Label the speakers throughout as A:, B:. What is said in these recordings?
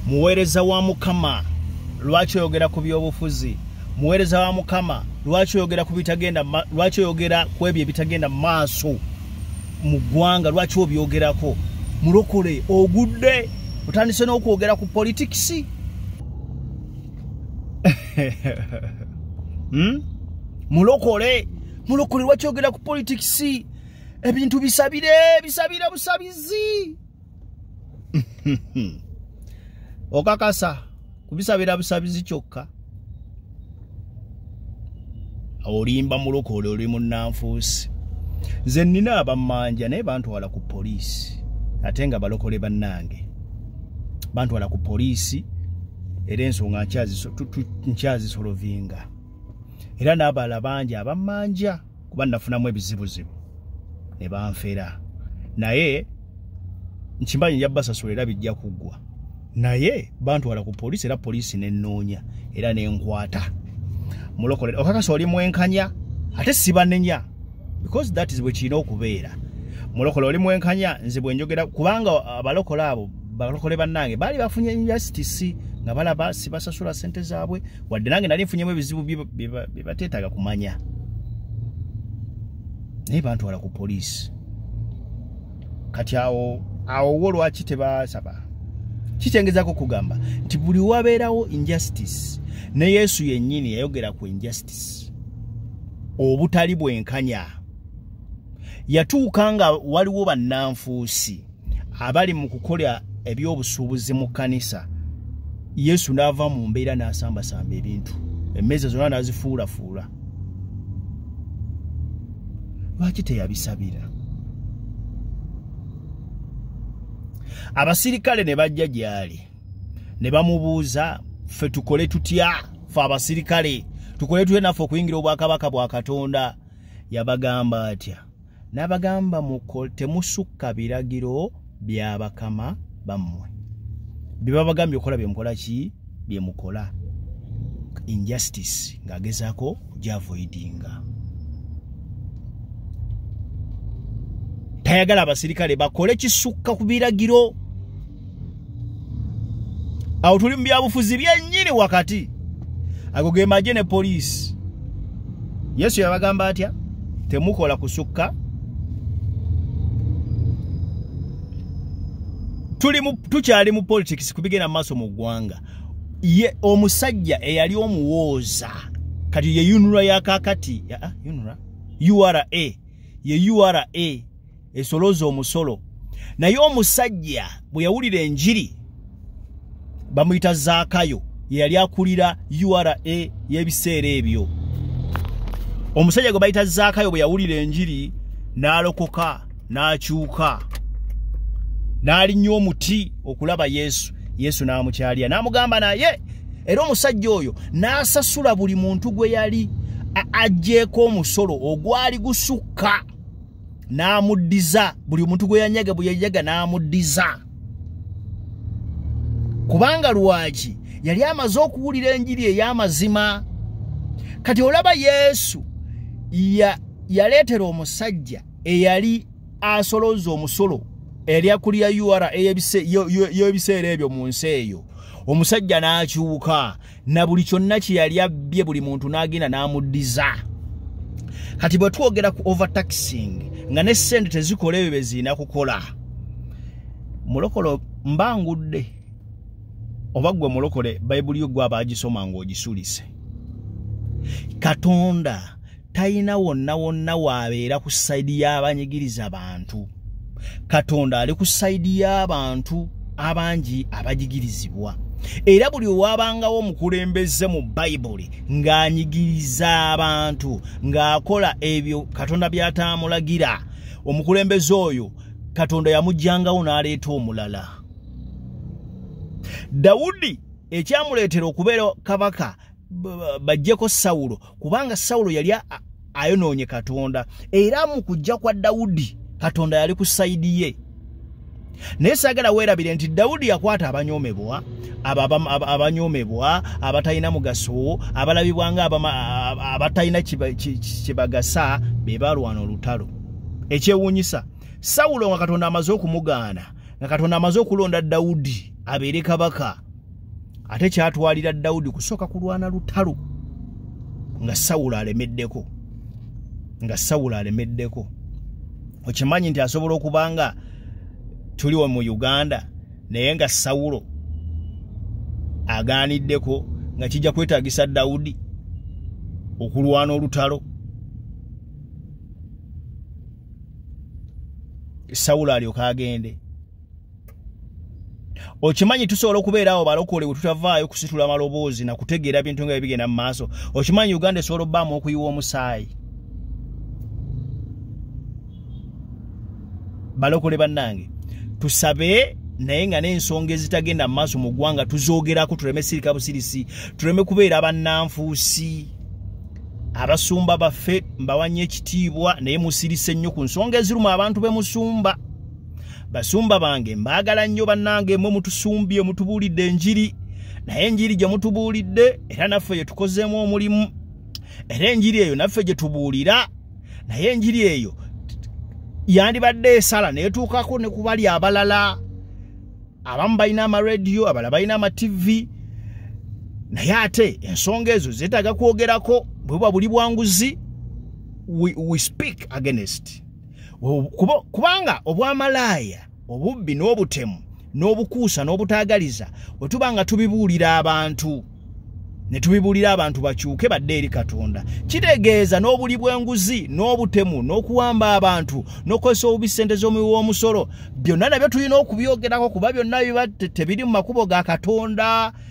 A: muweereza wa mukama lwaki oyogera ku byobufuzi muweereza wa mukama lwaki oyogera ku bitagenda lwaki oyogera ku ebyo ebitagenda mu maaso mu ggwanga lwaki obyogerako mulokole ogudde otandise n'okwogera ku politikisi hmm? mulokole mulokole lwaki oyogera ku politikisi ebintu bisabire bisabire busabizi okakasa kubisabira busabizi kyokka olimba mulokole oli munnanfuusi nze nnina abammanja naye bantwala ku poliisi ate nga balokole bannange bantwala ku poliisi era ensonga nkyazisolovinga era n'abala bangi abammanja kuba nafunamu ebizibuzibu ne banfera naye nkimanyi nja basasula era bijja kuggwa naye bantwala ku poliisi era poliisi nenoonya era nenkwata mulokolera okakasa oli mwenkanya ate sibanenya because that is bwekirina okubeera mulokola oli mwenkanya nze bwenjogera kubanga abalokola abo balokole bannange baali bafunye injustice nga balaba sibasasula sente zaabwe wadde nange nali nfunyemu ebizibu byebateetaaga kumanya naye bantwala ku poliisi kati awo awo wo lwaki tebasaba kikyengezako okugamba nti buli wabeerawo injustice ne yesu yennyini yayogera ku injustice obutali bwenkanya yatuuka nga waliwo bannanfuusi abali mu kukola ebyobusuubuzi mu kkanisa yesu n'ava mu mbeera n'asambasamba ebintu emmeeza zonna n'azifuulafuula lwaki teyabisabira abasirikale ne bajja gy'ali ne bamubuuza ffe tukole tutya fe abasirikale tukole tutya naffe okuyingira obwakabaka bwa katonda yabagamba atya n'abagamba temusukka biragiro bya bakama bammwe bye babagambye okukola bye mukola ki bye mukola injustice ng'agezaako gyavoidinga tayagala abasirikale bakole kisukka ku biragiro awo tuli mu byabufuzi byennyini wakati ago ge magye ne poliisi yesu yabagamba atya temukola kusukka tukyali mu politics kubigenda maaso mu ggwanga ye omusajja eyali omuwooza kati ye unra yakakati ah, ah, ura ye ura esolooza omusolo naye omusajja bwe yawulira enjiri bamuyita zaakayo yeyali akulira ura y'ebiseera ebyo omusajja gwe bayita zaakayo bwe yawulira enjiri n'alokoka n'akyuka n'alinnya omuti okulaba yesu yesu n'amukyalira n'amugamba naye era omusajja oyo n'asasula buli muntu gwe yali ajjeeko omusolo ogwali gusukka n'amuddiza buli omuntu gwe yanyaga bwe yanyaga n'amuddiza kubanga lwaki yali amaze okuwulira enjiri ey'amazima kati olaba yesu yaleetera ya omusajja eyali asolooza omusolo eyali akulira ura y'ebiseera ebyo mu nsi eyo omusajja n'akyuka na buli kyonna kye yali abbye buli muntu n'agenda n'amuddiza kati bwe twogera ku overtaxing nga ne ssente tezikola ebyo beziina kukola mulokolo mbangudde oba ggwe mulokole bayibuli yo gwe abaagisoma ng'ogisulise katonda talina wonna wonna waabeera ku sayidi y'abanyigiriza bantu katonda ali ku sayidi y'abantu abangi abajigirizibwa era buli owabangawo omukulembeze mu bayibuli ng'anyigiriza abantu ng'akola ebyo katonda by'ataamulagira omukulembeze oyo katonda yamugyangawo n'aleeta omulala dawudi ekyamuleetera okubeera kabaka bajjeko sawulo kubanga sawulo yali ayonoonye katonda era mu kujja kwa dawudi katonda yali ku sayidi ye naye saagala weerabire nti dawudi yakwata abanyoomebwa abanyoomebwa abatalina mugaso abalabibwa nga abatalina kyebagasa be balwana olutalo ekyewuunyisa sawulo nga katonda amaze okumugaana nga katonda amaze okulonda dawudi abeere kabaka ate kyatwalira dawudi kusooka kulwana lutalo nga sawulo alemeddeko nga sawulo alemeddeko okimanyi nti asobola okuba nga tuliwo mu uganda naye nga sawulo agaaniddeko nga kijja kwetagisa dawudi okulwana olutalo sawulo alyoka agende okimanyi tusobola okubeera awo balokole wetutavaayo kusitula maloboozi nakutegeera bintu nga bibigenda mu maaso okimanyi uganda esobola obbaamu okuyiwa omusaayi balokole bannange tusabe naye nga n'ensonga ezitagenda mu maaso mu ggwanga tuzoogerako tuleme sirika busirisi tuleme kubeera bannanfuusi abasumba baffe mbawannyo ekitiibwa naye musirise nnyo ku nsonga eziruma abantu be musumba basumba bange mbaagala nnyo bannange mwe mutusumbye mutubuulidde enjiri naye enjiri gye mutubuulidde era naffe gye tukozeemu omulimu era enjiri eyo naffe gye tubuulira naye enjiri eyo yandibadde esala neetuukako ne kubali abalala abamu balina amarediyo abalala balina amativi naye ate ensonga ezo zeetaaga kwogerako bwe buba buli bwanguzi we, we speak against kubanga obwamalaaya obubbi n'obutemu n'obukuusa n'obutaagaliza bwe tuba nga tubibuulira abantu ne tubibuulira abantu bakyuke badde eri katonda kitegeeza n'obuli bw'enguzi n'obutemu n'okuwamba abantu n'okozesa obubi ssente z'omuwi w'omusolo byonna nabyo tulina okubyogerako kuba byonna biba tebiri mu makubo ga katonda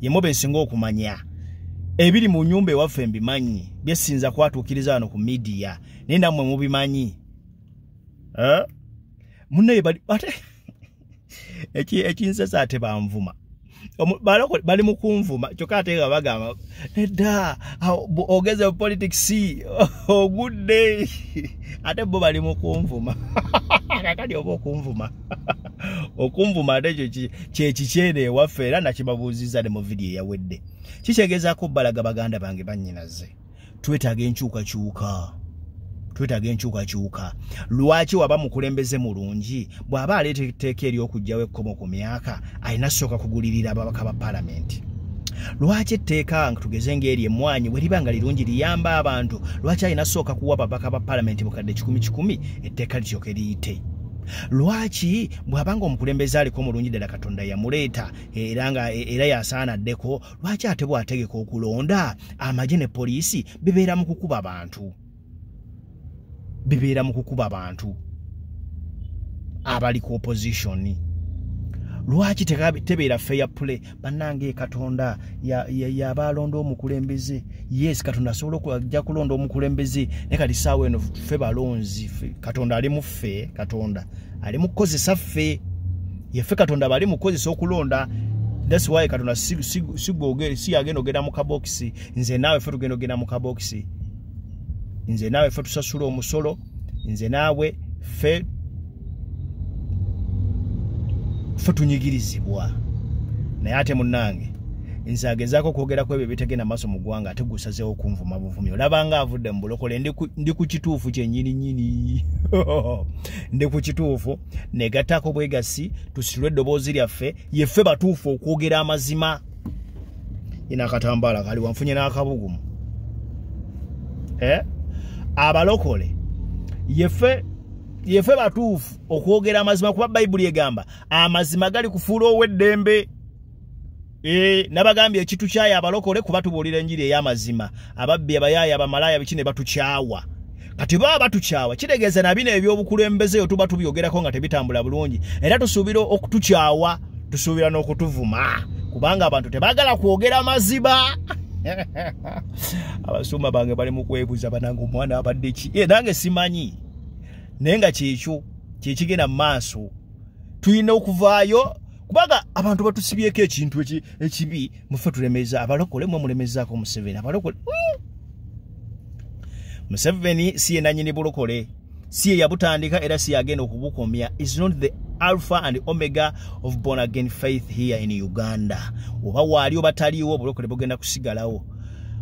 A: yemwe besinga okumanya ebiri mu nyumba ewaffe mbimanyi byesinza kwatuukiriza wano ku midiya naye nammwe mubimanyi eh? munaye ate ekinsesa ate banvuma bali mukunvuma kyokka ate nga bagamba edda ogeze politics ogudde ate bo bali mukunvuma kakali oba okunvuma okunvuma ate ekyo kyekikyeera ewaffe era nakibabuuzizza ne mu vidiyo eyawedde kikyegezaako balaga baganda bange bannyinaze twetaaga enkyukakyuka twetaaga enkyukakyuka lwaki waba mukulembeze mulungi bw'aba aleeta etteeka ery'okugjawo ekkomo ku myaka alina sooka kugulirira ababaka ba palamenti lwaki etteeka nga tugeze ngaeri emwanyi weriba nga lirungi liyamba abantu lwaki alina sooka kuwa babaka ba palamenti bukadde kikumi kikumi etteeka lityoke liyite lwaki bw'aba nga omukulembeze aliko mulungi ddala katonda yamuleeta era nga e, era yasaana addeko lwaki ate bw'ategeka okulonda amagye ne poliisi bibeera mu kukuba bantu bibeera mu kukuba bantu abali ku opozitioni lwaki tebeera feya pule bannange katonda yabaalonda omukulembeze yes katonda asobola okujja kulonda omukulembeze naye kati saawa eno ffe balonzi katonda ali muffe katonda ali mukukozesa ffe yeffe katonda bali mukukozesa okulonda thats why katonda siyagenda ogenda mu kabokisi nze naawe ffe tugenda ogenda mu kabokisi nze naawe ffe tusasula omusolo nze naawe ffe ffe tunyigirizibwa naye ate munnange nze agezaako okwogerako ebyo bitegenda maaso mu ggwanga ate gusazeewo okunvuma buvumi olaba nga avudde mu bulokole ndi ku kituufu kyenyininyini ndi ku kituufu negattaako bwegassi tusitulwe eddoboozi lyaffe yeffe batuufu okwogera amazima ina akatambala kali wanfunye n'akabugumu eh? abalokole yefe yefe batuufu okwogera amazima kuba bayibuli egamba amazima gali kufuula ow'eddembe E, nabagambye ekitu kyaya abalokole kuba tubuulira enjiri ey'amazima ababbi abayaaya abamalaaya biki ne batukyawa kati baba batukyawa kitegeeza na bino ebyobukulembeze yo tuba tubyogerako nga tebitambula bulungi era tusuubira okutukyawa tusuubira n'okutuvuma kubanga abantu tebagala kwogera maziba abasumba bange bali mu kwebuza banange omwana abadde ki e nange simanyi naye nga kyekyo kyekigenda mu maaso tulina okuvaayo kubaga abantu batusibyeko ekintu ekibi mufe tulemeza abalokole mwe mulemezaako museveni abalokole hmm. museveni si yenanyini bulokole si yeyabutandika era si yagenda okubukomya is not the alpha and omega of born again faith here in uganda oba waali oba taliiwo obulokole bugenda kusigalawo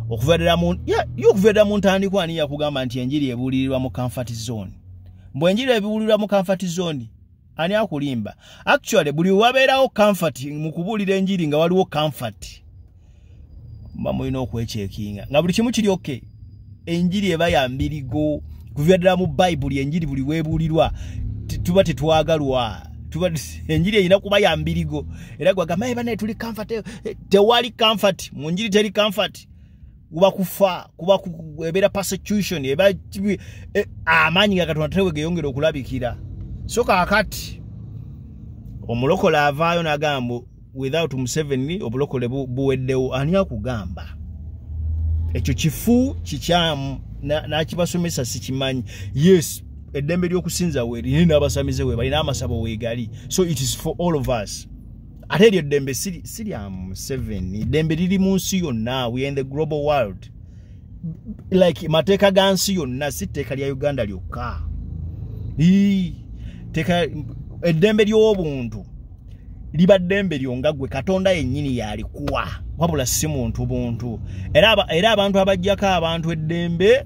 A: okuverera mu ntandikwa ani yakugamba nti enjiri ebuulirirwa mu comfort zone mbwenjiri ebiwulirwa mu comfort zone ani akulimba actually buli wabeerawo comfort mu kubuulira enjiri nga waliwo comfort mba mulina okwekyekinga nga buli kimu kiri oke enjiri eba ya mbirigo kuva ddala mu bayibuli enjiri buli weebuulirwa tuba tetwagalwa tuba enjiri erina kuba ya mbirigo era gwagamba ebanaye tuli comfort tewali comfort mu njiri teri comfort kuba kufa kuba ebeera persecution eba e, amaanyi ga katonda tewe geyongera okulabikira so kakati omulokole avaayo nagamba without museveni obulokole buweddewo ani akugamba ekyo kifu kikyamu nakibasomesa sikimanyi yes eddembe ly'okusinza weeri naye n'abasamize weebali n'amasabo weegali so it is for all of us ate eryo eddembe si lya museveni eddembe liri mu nsi yonna we in the global world like mateeka ga nsi yonna si tteeka lya uganda lyokka teeka eddembe ly'obuntu liba ddembe lyo nga gwe katonda yennyini yalikuwa wabula si muntu buntu era abantu abajjako abantu eddembe